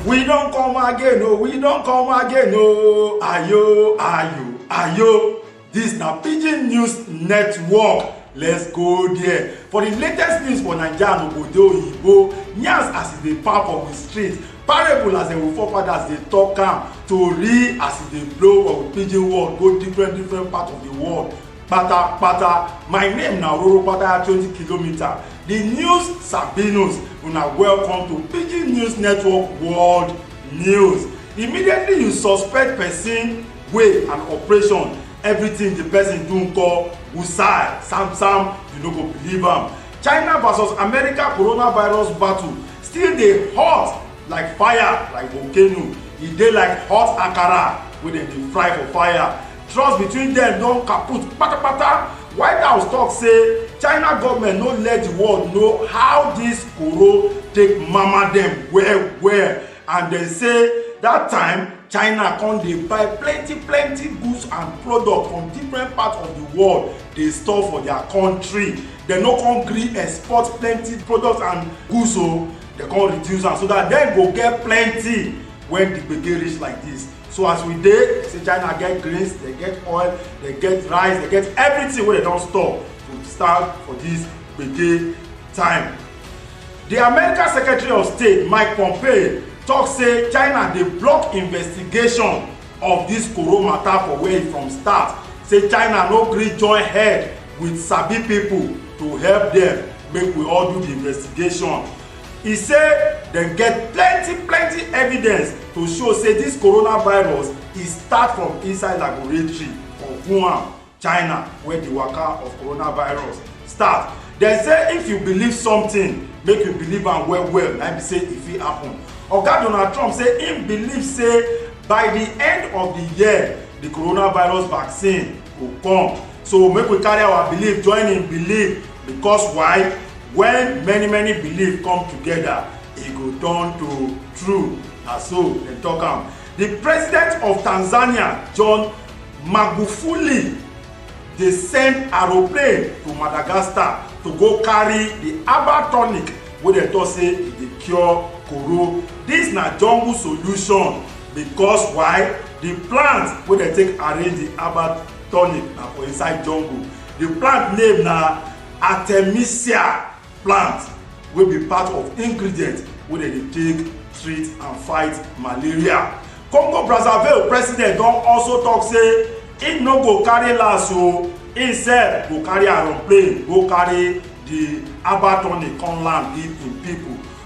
we don come again o we don come again o ayo ayo ayo dis na pidgin news network let's go there for di latest news for naija and obodo oyibo yans as e dey pap for we street parable as our forefathers dey talk am tori as e dey blow for pidgin world go different different part of the world patapata my name na roro pataya twenty kilometre the news sabinos una welcome to pidgin news network world news immediately you suspect person way and operation everything the person do nko usai sam sam you no go believe am China versus America coronavirus battle still dey hot like fire like volcano e dey like hot akara wey dem dey fry for fire trust between dem don kaput patapata white house tok say china government no let di world know how dis koro take mama dem well well and dem say dat time china come dey buy plenty plenty goods and products from different parts of di world dey store for dia kontri dem no come gree export plenty products and goods o oh. dem come reduce am so that dem go get plenty when the gbege reach like this so as we dey say china get grains dem get oil dem get rice dem get everything wey dem don store to stand for this gbege time the american secretary of state mike pompeo talk say china dey block investigation of this corona matter for where e from start say china no gree join head with sabi people to help them make we all do the investigation e say dem get plenty plenty evidence to show say this coronavirus e start from inside laboratory for wuhan china where the waka of coronavirus start dem say if you believe something make you believe am well well na be say e fit happen oga donald trump say im believe say by di end of di year di coronavirus vaccine go come so make we carry our belief join in belief because why when many many belief come together e go turn to true na so dem talk am the president of tanzania john magufuli dey send aeroplane to madagascar to go carry the herbal tonic wey dem talk say e dey cure koro this na jungle solution because why the plant wey dem take arrange the herbal tonic na for inside jungle the plant name na artemisia plant wey be part of ingredient wey dem dey take treat and fight malaria congo brazzaville president don also talk say im no go carry last o im sef go carry aeroplane go carry the herbal tonic come land give im people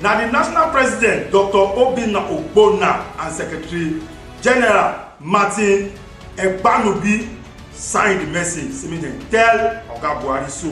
na di national president dr obinna ogbonna and secretary general martin egbanubi sign di message say make dem tell oga buhari so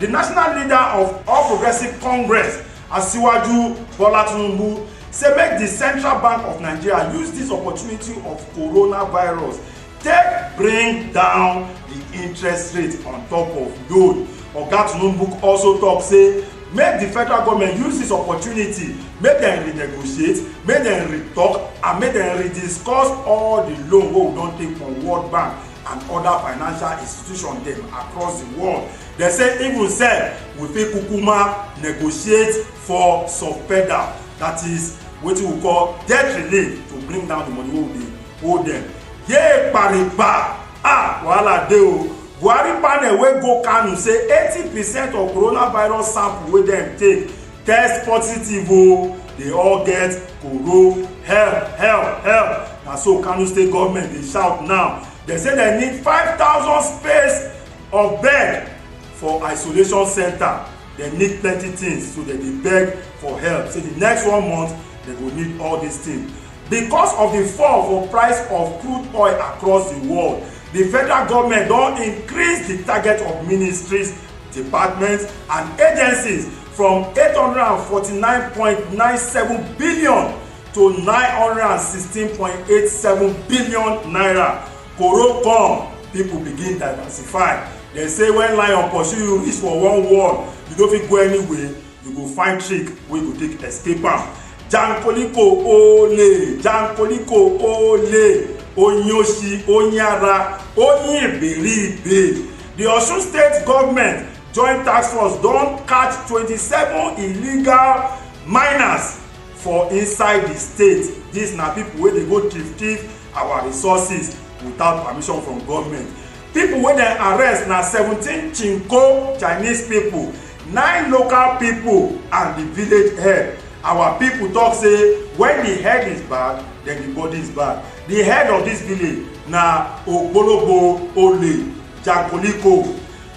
di national leader of all progressives congress asiwaju bola tinubu say make di central bank of nigeria use dis opportunity of coronavirus take bring down the interest rate on top of loan oga tinubu also talk say make the federal government use this opportunity make dem renegotiate make dem retalk and make dem rediscuss all the loan wey we don take from world bank and other financial institutions dem across the world dem say even sef we fit kukuma negotiate for subpedal that is wetin we call debt relief to bring down the money wey we dey hold dem yee kparikpa ah wahala dey o buhari panel wey go kano say eighty percent of coronavirus sample wey dem take test positive o dey all get koro help help help na so kano state government dey shout now dem say dem need five thousand space of bed for isolation center dem need plenty things so dem dey beg for help say the next one month dem go need all these things Because of di fall for price of crude oil across di world, di federal goment don increase di target of ministries, departments and agencies from n849.97 billion to n916.87 billion naira koro come people begin diversify dem say when lion pursue you reach for one wall you no fit go anywhere you go find trick wey go take escape am jankoliko ole jankoliko ole onyoshi onyara onye iberibe di osun state government joint task force don catch twenty-seven illegal miners for inside di state dis na pipo wey dey go thief thief our resources without permission from government pipo wey dem arrest na seventeen chinko chinese pipo nine local pipo and di village head our pipo tok say wen di head is bad den di body is bad di head of dis village na ogbologbo ole jankoliko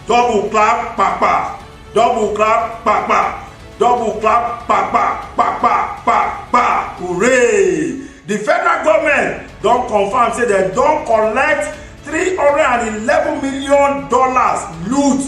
double clap papa double clap papa double clap papa papa papa hooray di federal goment don confam say dem don collect 311 million dollars loot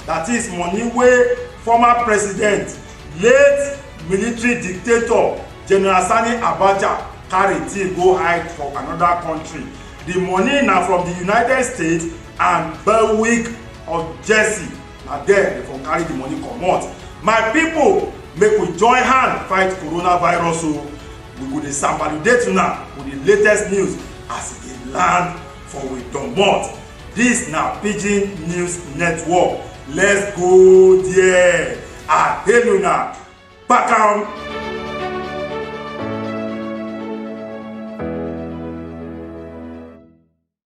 that is money wey former president late military dictator general sani abacha carry thief go hide for another country the money na from the united states and berwick of jersey na there dem for carry the money comot my people make we join hand fight coronavirus o we go dey sambaludate una with the latest news as e dey land for we domot This na Pidgin News Network. Let's go there. I hail una. Back am.